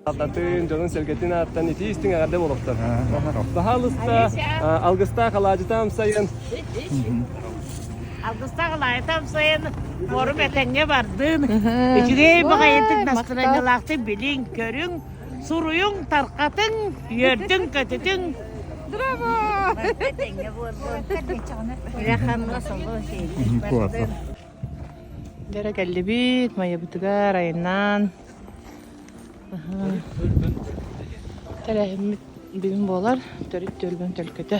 Алтатын дьонун-сэргэтин ааттан итии истиҥ эҕэрдэ болохтон. Баһаалыста алгыстаах алаадьыта амсайын. Алгыстаах алаадьыта амсайын форум этэҥҥэ бардын. Үчүгэй баҕайытык настроениялаахтык билиҥ, көрүҥ. суруйуҥ, тарҕатыҥ, үөрдүҥ-көтүтүҥ. Бэрэ кэллибит майабытыгар айаннаан. Тэрээһиммит бүгүн буолар төрүт түөлбүн төлкөтө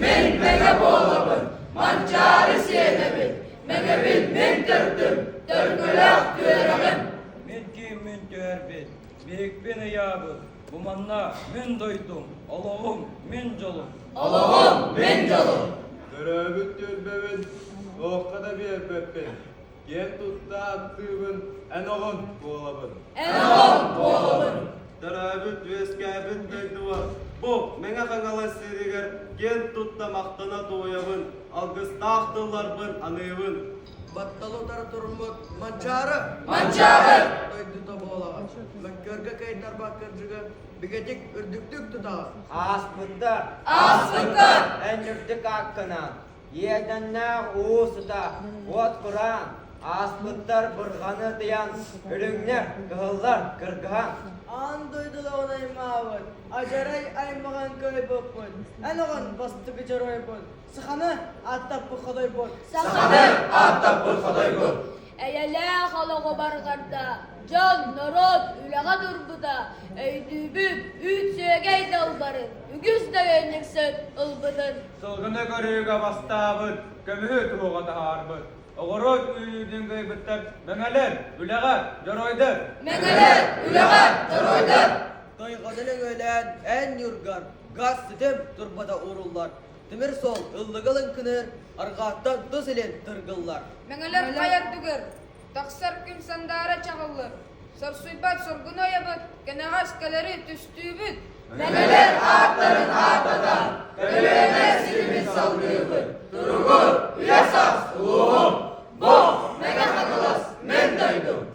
Мин мэҥэ буолабын, Манчаары сиэнэбин, мэҥэбин мин төрдүм, төркөлөөх түөрэҕим. Мин ким мин түһэрбит, биһикпин ыйаабыт, бу манна мин дойдум, олоҕум мин дьолум. Олоҕум мин дьолум. Төрөөбүт түөлбэбин туохха да биэрбэппин, Киэн тутта аттыыбын, эн оҕун буолабын. Эн оҕун буолабын. Төрөөбүт үөскээбит дойдубар бу Мэҥэ Хаҥалас сиригэр киэн тутта махтана туойабын, алгыстаах тылларбын аныыбын. Батталы утары туруммут Манчаары! Манчаары! Дойдута буолаҕа. Мөккүөргэ кыайдарбаах кырдьыга бигэтик үрдүктүк тутаҕа. Ааспыттар! Ааспыттар! Эн үрдүк ааккынаан! Иэдэннээх уу сыта, уот кураан, ааспыттар бырҕаны ытыйан, үлүҥнэр, кыһыллар кыргаһан. Аан дойдулаҕын аймаабыт, адьарай аймаҕан кыайбыппыт. Эн оҕон бастакы дьоруойбун. Саханы ааттаппыт ходойбут. Саханы ааттаппыт ходойбут. Эйэлээх олоҕубар барда, дьон, норуот үлэҕэ турбута, өйдүүбүн, үүт-сүөгэй далбарын, үгүс дөйөнньүксүн ылбытын. Сылгыны көрүүгэ бастаабыт, көмүһү туруга таһаарбыт. Оҕуруот үүнүүтүн кыайбыттар мэҥэлэр, үлэҕэр, дьоруойдар. Мэҥэлэр, үлэҕэр, дьоруойдар. Тойҕону нөҥүөлээн эн ньурган, газ ситим турбата ууруллар. Тимир сол ыллыгыл ынкыныыр, аргааттан тус илин тыргыллар. Мэҥэлэр хайардыгыр, тахсар күн сандаара чаҕыллыр. Сорсуйбат соргун ойабыт, кэнэҕэс кэлэри түстүүбүт. Мэҥэлэр ааттарын ааттата, көлүөнэ сирибит салгыыбыт. Туругу, үйэ-саас, улууһум, бог, Мэҥэ Хаҥалас, мен дойдум.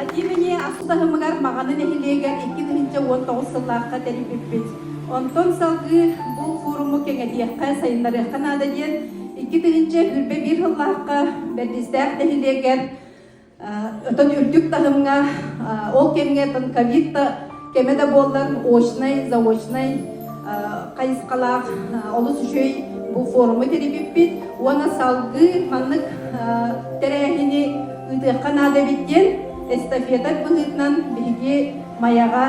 Атиивэни ахсыс аһымыгар Маҕаны нэһилиэгэр икки тыһыынча уон тоҕус сыллаахха тэрийбиппит. Онтон салгыы бу форуму кэҥэтиэххэ, сайыннарыахха наада диэн икки тыһыынча сүүрбэ биир сыллаахха Бэрдистээх нэһилиэгэр Өтөн үрдүк таһымҥа, ол кэмҥэ ковид кэми да буоллар очнай, заочнай хайысхалаах олус үчүгэй бу форуму тэрийбиппит уонна салгыы маннык тэрээһини ыытыахха наада эбит диэн эстафета быһыытынан биһиги Майаҕа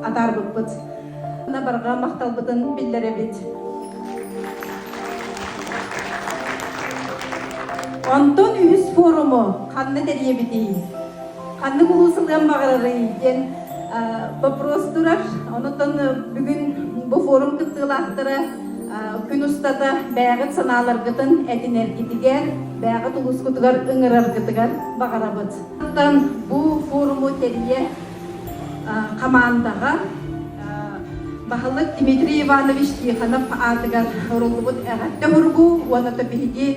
атаарбыппыт. Барҕа махталбытын биллэрэбит. Онтон үһүс форуму ханна тэрийэбитий? ханнык улуус ылыан баҕарарый диэн вопрос турар. Онутан бүгүн бу форум кыттыылаахтара күн устата бэйэҕит санааларгытын этинэргитигэр, бэйэҕит улуускутугар ыҥыраргытыгар баҕарабыт. Онтон бу форуму тэрийэ хамаандаҕа баһылык Дмитрий Иванович Тихонов аатыгар оруллубут эҕэрдэ уругу уонна биһиги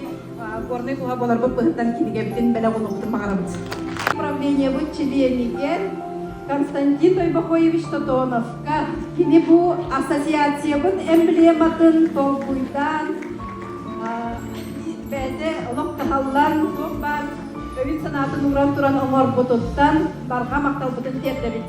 Горнай туһа болорбут быһыттан кинигэбитин бэлэх уунубутун баҕарабыт. Управлениебыт чилиэнигэр Константин Тойбохоевич Тотоновка кини бу ассоциациябыт эмблематын толкуйдаан бэйэтэ олох каһаллан туох баар өйүн санаатын ууран туран оҥорбутуттан барҕа махталбытын тиэрдэбит.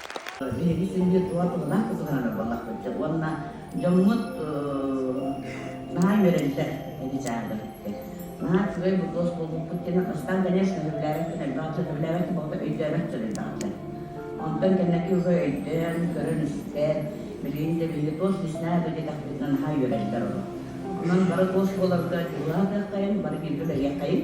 Биһиги күндү туох тыллаах кытылаһара балахпытча уонна дьоммут наһаа үөрэллэр ити чаабыттык. Наһаа үчүгэй бутуос буолбуппут кэннэ ыстаан кэнэс сөбүлээбэт кэтэлбэҕэ сөбүлээбэт болото өйдөөбөт сырыйдаҕыта. Онтон кэннэки үһү өйдөөн, көрөн-истэр, билигин да биһиги туос лиснаа билиэтэхпитинэ наһаа үөрэллэр ол. Онон бары туос буоларга дьулаһа кыаххайын, бары бииргэ бэлиэхайын.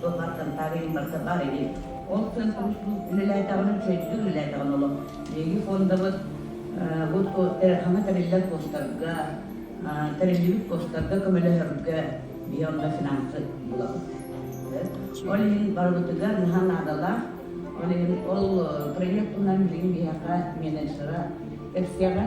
туһаттан таарыйын барса баар ини. Ол тыын уустук үлэлээтэҕин, чөйдүү үлэлээтэҕин олох. Биһиги фондабыт бу ханна тэриллэр постарга, тэриллибит постарга көмөлөһөргө биһи онно финансы булабыт. Ол иһин барыбытыгар наһаа наадалаах. Ол иһин ол проект булнар билигин биһиэхэ менеджера, эксэҕэ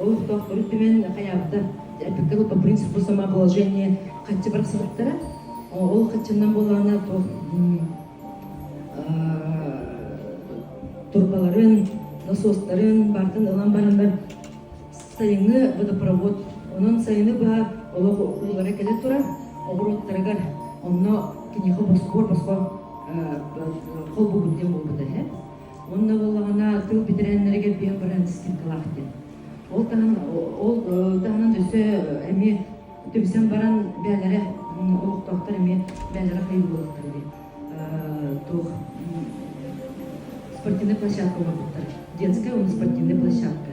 олохтоох төрүт түмэн хайаабыта эпикка бу принцип бу самообложение хаччы барахсатыктара ол хаччаннан буолаана туох турбаларын насостарын бартан ылан бараннар сайыҥҥы водопровод онон сайыны быһа олох улара кэлэ турар оҕуруоттарыгар онно киниэхэ босхо босхо холбугут диэн буолбута Уонна буоллаҕына тыл бэтэрээннэригэр биэн баран стиркалаах диэн. Ол таһынан ол таһынан өссө эмиэ түмсэн баран бээлэри олохтоохтор эмиэ бээлэри хай буоллахтар диэн туох спортивнай площадка оҥорбуттар. Детская спортивная площадка.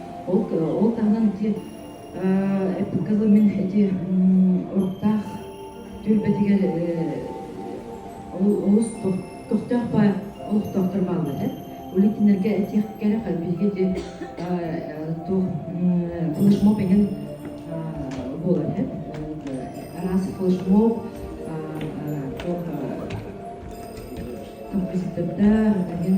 Ол ол таһынан ити эппиккэ мин ити уруктаах түөлбэтигэр олус тохтоох баар олохтоохтор бааллар улитиннэргэ этиэх кэрэх биһиги ити туох флешмоб эҥин буолар араас флешмоб композитордар эҥин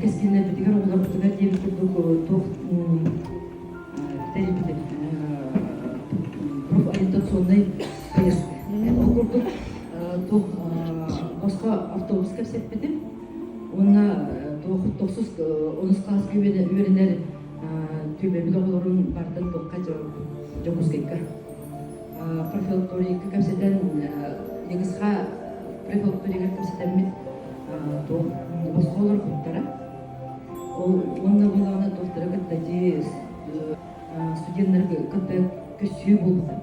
кэскиллэрбитигэр обуларбытыгар диэбит курдук туох тэрийбитин профориентационнай поездка ол курдук туох босхо автобус кэпсэппитим уонна туох тохсус онус хаас күбэни үөрэнэр түбэбит оҕолорун бардын туохха дьокускайга профилакторийга кэпсэтэн негізға профилакторийгар кэпсэтэммит туох оскуолалар куттара ол уонна балааны доктора кытта дии студеннары кытта көрсүү буолбута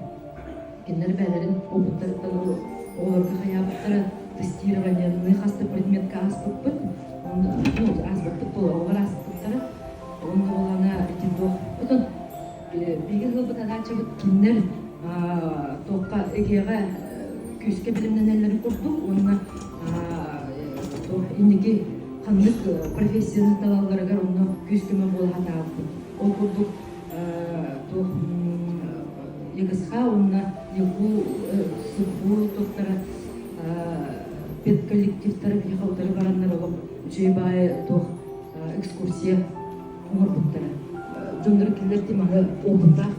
кинилэр бэйэлэрин опыттарыттан ол оҕолорго хайаабыттара тестирование хаста предметка ааспыппыт ну ааспыппыт бұл оҕолор ааспыттара уонна балаана типпаппытын Биһиги ылбыт адаачабыт кинилэр туохха эгиэҕэ күүскэ билимнэнэллэрин курдук уонна инники ханнык профессияны талалларыгар онно күүс-көмө буолаһат ааппыт. Ол курдук туох ЕГСХ уонна ЕГУ СУПУ туттара педколлективтары биһиэхэ утары бараннар олох дьиэ баайы туох экскурсия оҥорбуттара. Дьоннор кинилэрти маны опыттаах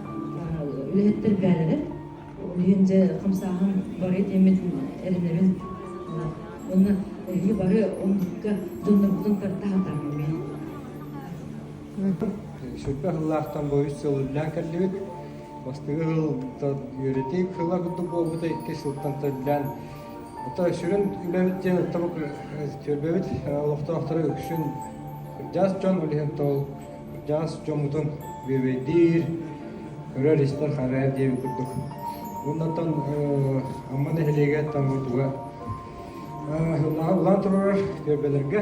үлэһиттэр бээлэрэ. Үлүйэн же хамсааһын бары тиэммитин эринэбин. Онна эһи бары онгукка дьоннорбутун тартаһатаамами. Сүрбэ хыллаахтан боюс сыллаан кэллибит. Бастыгы хыл үөрөтей хыла курдук буолбута икки сылтан төллән Хытай сүрүн үлэбит диэн тобук түөлбэбит олохтоохторо үксүн кырдьаҕас дьон, ол иһин ол кырдьаҕас дьоммутун бүөбэйдиир, көрөр, истэр, харайар диэбит курдук. Оннуттан Амма нэһилиэгэ Тамырдуга улахан улахан турар түөлбэлэргэ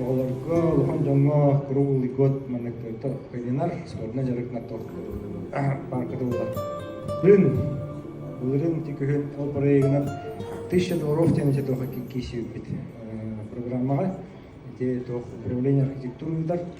оҕолорго улахан дьоҥҥо круглый год маннык кыайдынар спортивнай дьарыктар паарката буолар. Бүгүн былырын ити күһүн ол проектынан тысяча долларов диэн ити туох киисибит программаҕа ити туох управление архитектурныйдар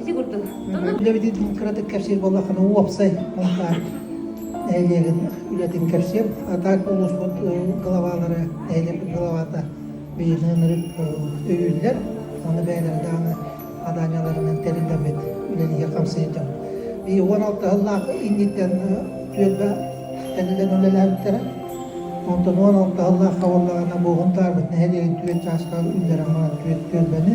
Ити курдук. Үлэбитин кыратык кэпсиир буоллаххына, уопсай алакаар нэһилиэгин үлэтин кэпсиэм. Атаак улууспут главалары, нэһилиэк главата бийилэнэрин өйүүллэр. Оны бэйэлэрэ дааны аданияларынан тэриллэммит үлэлиһи хамсыйдым. И 16 ыллаах инниттен түөлбэ тэнилен үлэлээбиттэрэ. Онтон 16 ыллаах хабыллаҕана буоһун таарбыт нэһилиэгин түөт чаашка үллэрэн баран түөт түөлбэни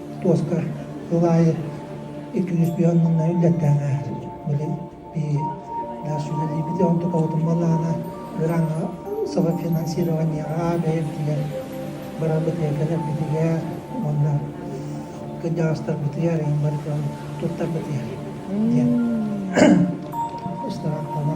туоска сыл аайы икки күүс түһэн манна үллэхтээн ааһар. Били бии наш үлэлиибит онтукабытын балаана Граҥа саба финансирование аабэйэр диэн барабытыакаларбитигэр уонна кыдьаастарбытыгар ин барытын туттарбытыгар диэн ыстараттана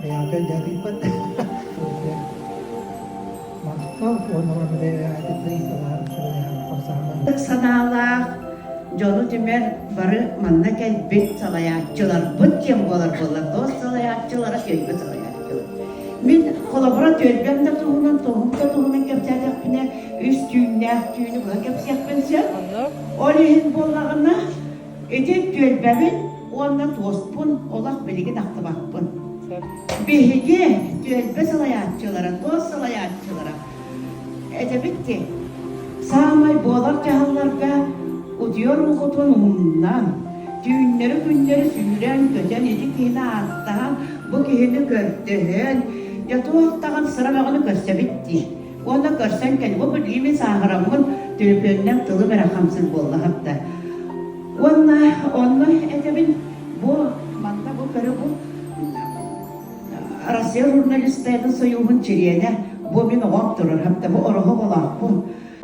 Бэйэҕэ өлдөтүүппүт. Махта уонна санаалаах дьолу түмэр бары манна кэлбит салайааччыларбыт диэн буолар буоллар тоос салайааччылара түөлбэ салайааччылар. Мин холобура түөлбэм да туһунан, тоһум да туһунан кэпсээтэхпинэ үс түүннээх түүнү быһа кэпсиэхпин сөп. Ол иһин буоллаҕына Ити түөлбэбин уонна туоспун олох билигин ахтыбаппын. Биһиги түөлбэ салайааччылара, туос салайааччылара этэбит ки саамай буолар дьаһалларга утуйар уҥкутун умнан, түүннэри күннэри сүүрэн көтөн ити киһини ааттаан, бу киһини көрдөһөн, дьэ туох даҕан сыра бөҕөнү көрсөбүт дии. Уонна көрсөн кэл, бу билиими сааһыраммын төлөпүөннэм тылым эрэ хамсыыр буолла хапта. Уонна онно этэбин бу манна бу көрө бу Россия журналистарын союһун чилиэнэ бу мин оҕом турар хапта бу ороһо болаахпын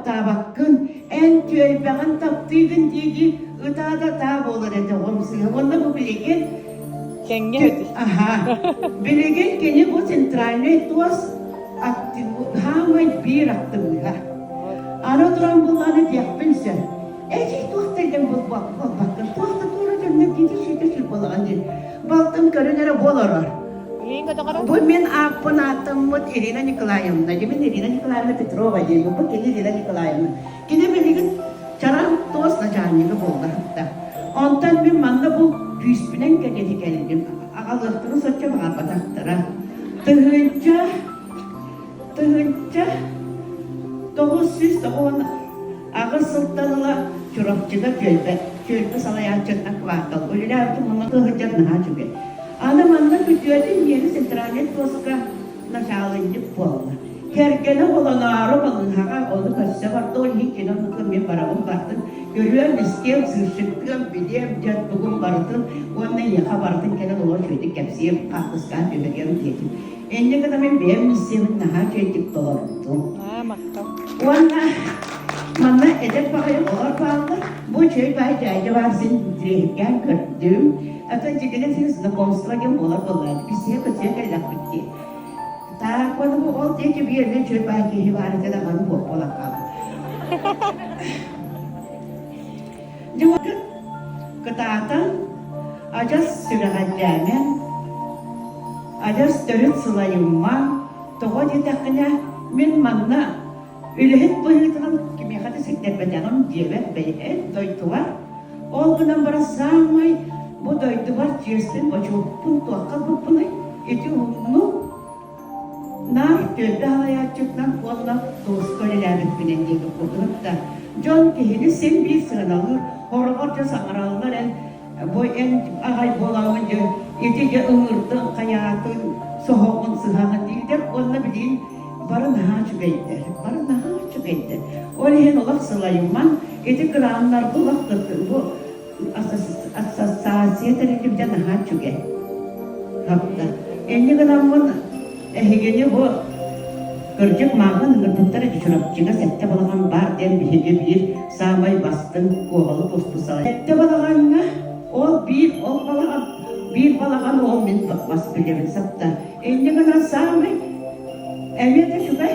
таабаккын эн түөлбэҕин таптыыгын диэки ытаа да таа буолар этэ оҕомсыыһа уонна бу билигин Тэҥҥэ өтү. Ага. Билигин кини бу центральнай туос аттыбытаамай биир аттыбыта. Аны туран буланы диэхпин сөп. Эчи туох тэлгэн буолбаккын, туох да туора дьоннор дии ситэ сүр болаҕа дии. Балтым көрөн эрэ буоларар. Бу мин ааппын ааттаммыт Ирина Николаевна, дьэ мин Ирина Николаевна Петрова диэн, бу кини Ирина Николаевна. Кини билигин чараҥ туос начальнига буолла сытта. Онтон мин манна бу күүспүнэн кэриэтэ кэллим. Аҕалыахтарын соччо баҕарбатахтара. Тыһыынча тыһыынча тоҕус сүүс тоҕуон аҕыс сылтан ыла Чурапчыга түөлбэ, түөлбэ салайааччытынан квартал үлэлээбитим мунна сылдьар наһаа үчүгэй. Аны манна күтүөтүн миэри центральнай туоска Начаалынньык буолла. Кэргэнэ олороору балыыһаҕа ону көрсө бардылар иһин кини оннуттан мин барабын бартым көрүөн истиэм сыырсыттыам билиэм дьэн тугум барытын уонна ийэхэ барытын кэлэн олор үчүгэйдик кэпсиэм хаартыскаан түһэтиэм диэтим инньэ гына мин бэйэм билсиэбин наһаа үчүгэйдик толордум уонна манна эдэр баҕайы олор бааллар бу үчүгэй баай дьаадьа баар син тириэһиргээн көрдүм Атын дьиҥинэн син знакомство диэн буолар буоллаҕыт, билсиһэ-көтсүһэ кэллэхпит дии. Так, маны бу ол диэки биэрнэ чөл баай киһи баара дьэ даҕаны буолан хаалбыт. Дьылгын кытаатан, адьас сүрэҕэлдьээмэ, адьас төрүт сылайымма, тоҕо диэтэххинэ, мин манна Үлэһит быһыытынан кимиэхэ да ситтэрбэтэҕим диэбэт бэйэһит дойдуга. Ол гынан баран саамай бу дойдубар тиэрсин бочуоппун туохха буппунуй? Ити умнук. Наар түөлбэ салайааччытынан уонна дуоска үлэлээбиппинэн диэки курдуһар да, дьон киһини син биир сыаналыыр, хороҕор дьэ саҥараллар эн Бу эн аҕай буолаҕын дьэ, ити дьэ ыҥырдыҥ, хайаатын, соһоҕун, сыһаҕын дииллэр уонна билигин бары наһаа үчүгэйдэр, бары наһаа үчүгэйдэр. Ол иһин олох сылайымаҥ, ити кырааннар бу олох бу ассоциация тэрилибитэ наһаа үчүгэй. Хапта. Инньэ гыламмын Эһигини бу, кырдьык, мааҕын ыҥырбыттара Чурапчыга сэттэ балаҕан баар диэн биһиги биир саамай бастыҥ куобалык устуссалар. Сэттэ балаҕаҥҥа ол биир ол балаҕан, биир балаҕан уол мин бас билэбин сапта. Инньэ гынан саамай эмиэ да үчүгэй